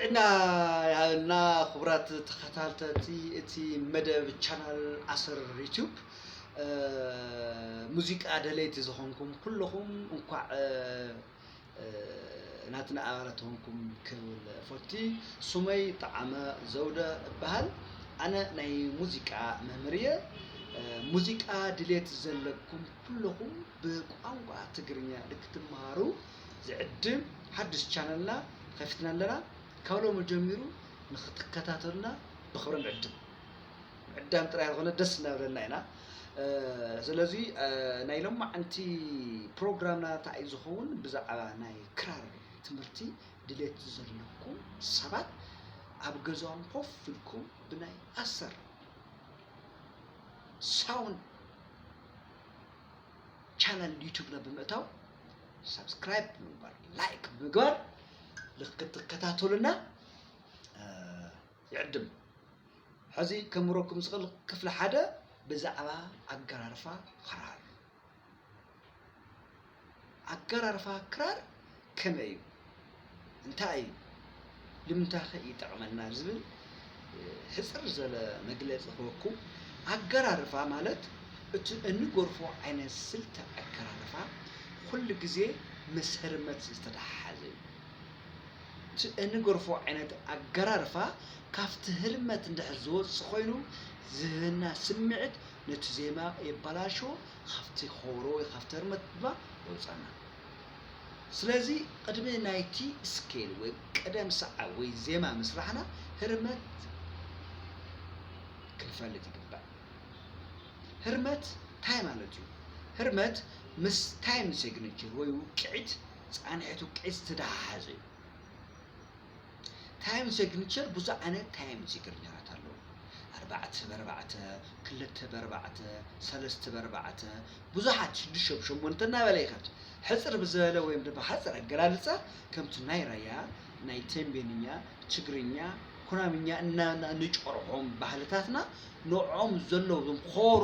ጥዕና ይሃበልና ክቡራት ተኸታተልቲ እቲ መደብ ቻናል ኣሰር ዩቲዩብ ሙዚቃ ደለይቲ ዝኾንኩም ኩለኹም እንኳዕ ናትና ኣባላት ተኾንኩም ክብል ፎቲ ሱመይ ጠዓመ ዘውደ እበሃል ኣነ ናይ ሙዚቃ መምህር እየ ሙዚቃ ድሌት ዘለኩም ኩለኹም ብቋንቋ ትግርኛ ንክትመሃሩ ዝዕድም ሓድሽ ቻነልና ከፊትና ኣለና ካብ ሎሚ ጀሚሩ ንክትከታተሉና ብክብሪ ንዕድም ምዕዳም ጥራይ ኣይኮነ ደስ እናበለና ኢና ስለዚ ናይ ሎማዓንቲ ፕሮግራምና እንታይ እዩ ዝኸውን ብዛዕባ ናይ ክራር ትምህርቲ ድሌት ዘለኩም ሰባት ኣብ ገዛኦም ኮፍ ኢልኩም ብናይ ኣሰር ሳውንድ ቻናል ዩቱብና ብምእታው ሳብስክራይብ ብምግባር ላይክ ብምግባር ክትከታተሉና ይዕድም። ሐዚ ከምህረኩም ዝኽእል ክፍሊ ሓደ ብዛዕባ ኣገራርፋ ኽራር እዩ። ኣገራርፋ ክራር ከመይ እዩ? እንታይ እዩ? ልምንታይኸ ይጠቕመና? ዝብል ሕፅር ዝበለ መግለፂ ክህበኩም። ኣገራርፋ ማለት እቲ እንጎርፎ ዓይነት ስልቲ ኣገራርፋ ኩሉ ግዜ ምስ ህርመት ዝተተሓሓዘ እዩ። እቲ እንገርፎ ዓይነት ኣገራርፋ ካብቲ ህርመት እንድሕር ዝወጽእ ኮይኑ ዝህበና ስምዒት ነቲ ዜማ የባላሽዎ ካብቲ ከበሮ ወይ ካብቲ ህርመት ድማ የውጻና ስለዚ ቅድሚ ናይቲ ስኬል ወይ ቅደም ሰዓብ ወይ ዜማ ምስራሕና ህርመት ክንፈልጥ ይግባእ ህርመት ታይ ማለት እዩ ህርመት ምስ ታይም ሴግኒቸር ወይ ውቅዒት ፃንሒቱ ቂፅ ዝተደሓሓዘ እዩ። ታይም ሴግኒቸር ብዙሕ ዓይነት ታይም ሴግኒቸራት ኣለዉ። ኣርባዕተ በርባዕተ፣ ክልተ በርባዕተ፣ ሰለስተ በርባዕተ፣ ብዙሓት ሽዱሽተ ብሸሞንተ እናበለ ይኸድ። ሕፅር ብዝበለ ወይም ድማ ሓፅር ኣገላልፃ ከምቲ ናይ ራያ፣ ናይ ቴምቤንኛ፣ ትግርኛ፣ ኩናምኛ እናበልና ንጨርሖም ባህልታትና ንዕኦም ዘለዉ እዞም ኾሮ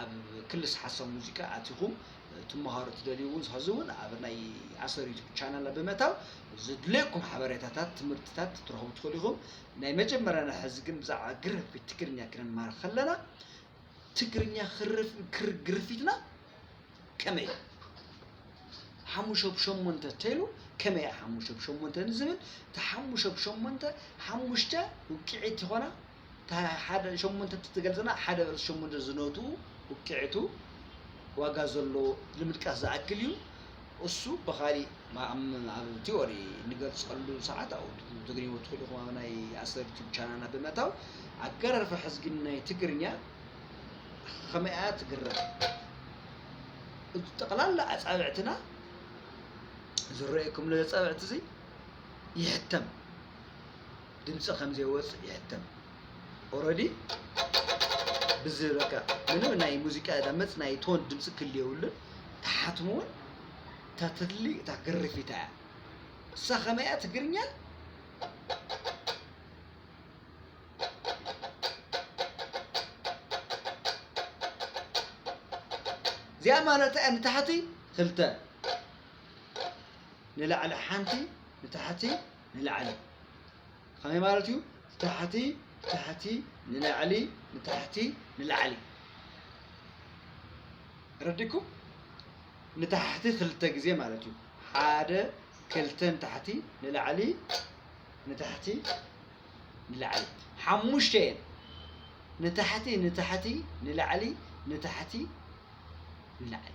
ኣብ ክልስ ሓሳብ ሙዚቃ ኣቲኹም ትመሃሩ ትደልዩ እውን ሐዚ እውን ኣብ ናይ ኣሰር ዩቱብ ቻናልና ብምእታው ዝድለየኩም ሓበሬታታት ትምህርትታት ትረኽቡ ትኽእሉ ኢኹም ናይ መጀመርያና ሐዚ ግን ብዛዕባ ግርፊት ትግርኛ ክንማሃር ከለና ትግርኛ ግርፊትና ከመይ እዩ ሓሙሽተ ብሸሞንተ ተይሉ ከመይ ሓሙሽተ ብሸሞንተ ንዝብል እቲ ሓሙሽተ ብሸሞንተ ሓሙሽተ ውቅዒት ይኾና እታ ሓደ ሸሞንተ እትገልጸና ሓደ በርስ ሸሞንተ ዝነቱ ውቅዒቱ ዋጋ ዘሎ ንምድቃስ ዝኣክል እዩ። እሱ ብኻሊእ ኣብ ቲዮሪ ንገልጸሉ ሰዓት ኣብኡ ትግርኝዎ ትኽእሉ ኢኹም ኣብ ናይ ኣሰር ዩቱብ ቻናልና ብምእታው ኣገራርፋ ሕዝጊ ናይ ትግርኛ ከመይ እያ ትግረም ጠቕላላ ኣጻብዕትና ዝረኣየኩም ነዚ ኣጻብዕቲ እዚ ይሕተም ድምፂ ከምዘይወፅእ ይሕተም ኦረዲ ብዚ በቃ ምንም ናይ ሙዚቃ ዳመፅ ናይ ቶን ድምፂ ክል የብሉን ተሓትሙ እውን እታ ተድሊ እታ ግርፊታ እያ እሳ ከመይ እያ ትግርኛ እዚኣ ማለት እያ ንታሕቲ ክልተ ንላዕሊ ሓንቲ ንታሕቲ ንላዕሊ ከመይ ማለት እዩ ታሕቲ ታሕቲ ንላዕሊ ንታሕቲ ንላዕሊ ረዲኩም ንታሕቲ ክልተ ግዜ ማለት እዩ ሓደ ክልተ ንታሕቲ ንላዕሊ ንታሕቲ ንላዕሊ ሓሙሽተ እየን ንታሕቲ ንታሕቲ ንላዕሊ ንታሕቲ ንላዕሊ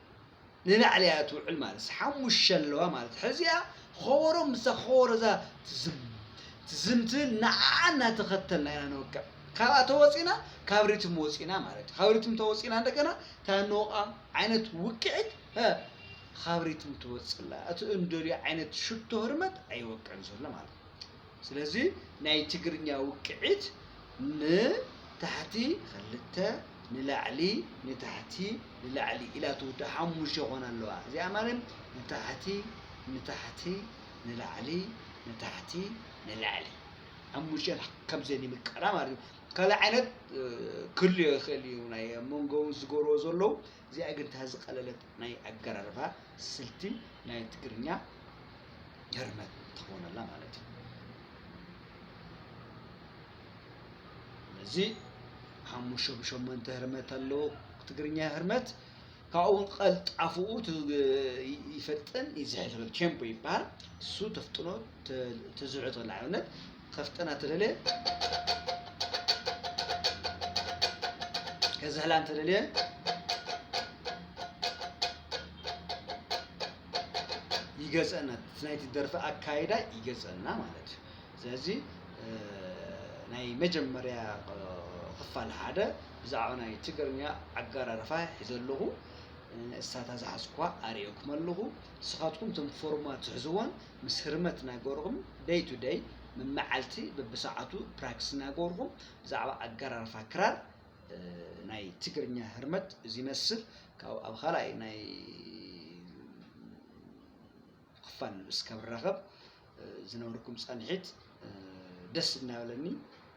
ንላዕሊ እያ ትውዕል ማለት ሓሙሽተ ኣለዋ ማለት ሕዚኣ ኾቦሮ ምስታ ኾቦሮ እዛ ትዝም ትዝም ትብል ንዓኣ እናተኸተልና ኢና ንወቅዕ ካብኣ ተወፂና ካብ ሪትም ወፂና ማለት እዩ ካብ ሪትም ተወፂና እንደገና እታ ንወቕዓ ዓይነት ውቅዒት ካብ ሪትም ትወፅላ እቲ እንደልዮ ዓይነት ሽቶ ህርመት ኣይወቅዕን ዘሎ ማለት እዩ ስለዚ ናይ ትግርኛ ውቅዒት ን ታሕቲ ኽልተ ንላዕሊ ን ታሕቲ ንላዕሊ ኢላ ትውዳእ ሓሙሽተ ክኾና ኣለዋ እዚኣ ማለት ን ታሕቲ ን ታሕቲ ን ላዕሊ ን ታሕቲ ን ላዕሊ ሓሙሽተ ከምዘን ይምቀላ ማለት እዩ ካልእ ዓይነት ክህሉ ይኽእል እዩ ናይ ኣብ መንጎ ዝገብርዎ ዘለዉ እዚኣ ግን እታ ዝቀለለት ናይ ኣገራርባ ስልቲ ናይ ትግርኛ ህርመት ትኸውን ኣላ ማለት እዩ። ስለዚ ሓሙሽተ ብሸሞንተ ህርመት ኣለዎ ትግርኛ ህርመት ካብኡ እውን ቀልጣፍኡ ይፈጥን ይዝሕል ቴምፖ ይበሃል እሱ ተፍጥኖ ተዝሕቶ ንኣብነት ከፍጥና ተደልየ ከዝሕላ እንተደልየ ይገፀና እቲ ናይቲ ደርፊ ኣካይዳ ይገፀና ማለት እዩ ስለዚ እ፣ ናይ መጀመርያ እ፣ ክፋል ሓደ ብዛዕባ ናይ ትግርኛ ኣጋራርፋ ሒዘ ኣለኹ እ፣ እሳታ ዝሓዝኩዋ ኣርእየኩም ኣለኹ ንስኻትኩም እቶም ፎርማት ትሕዝዎን ምስ ህርመት ናገሩኹም ደይ ቱ ደይ፣ መመዓልቲ በብሰዓቱ ፕራክስ ናገሩኹም ብዛዕባ ኣገራርፋ ክራር ናይ ትግርኛ ህርመት ዚመስል ካብኡ ኣብ ኻልኣይ ናይ ኽፋል እስከብራኸብ ዝነበርኩም ጸንሒት ደስ እናበለኒ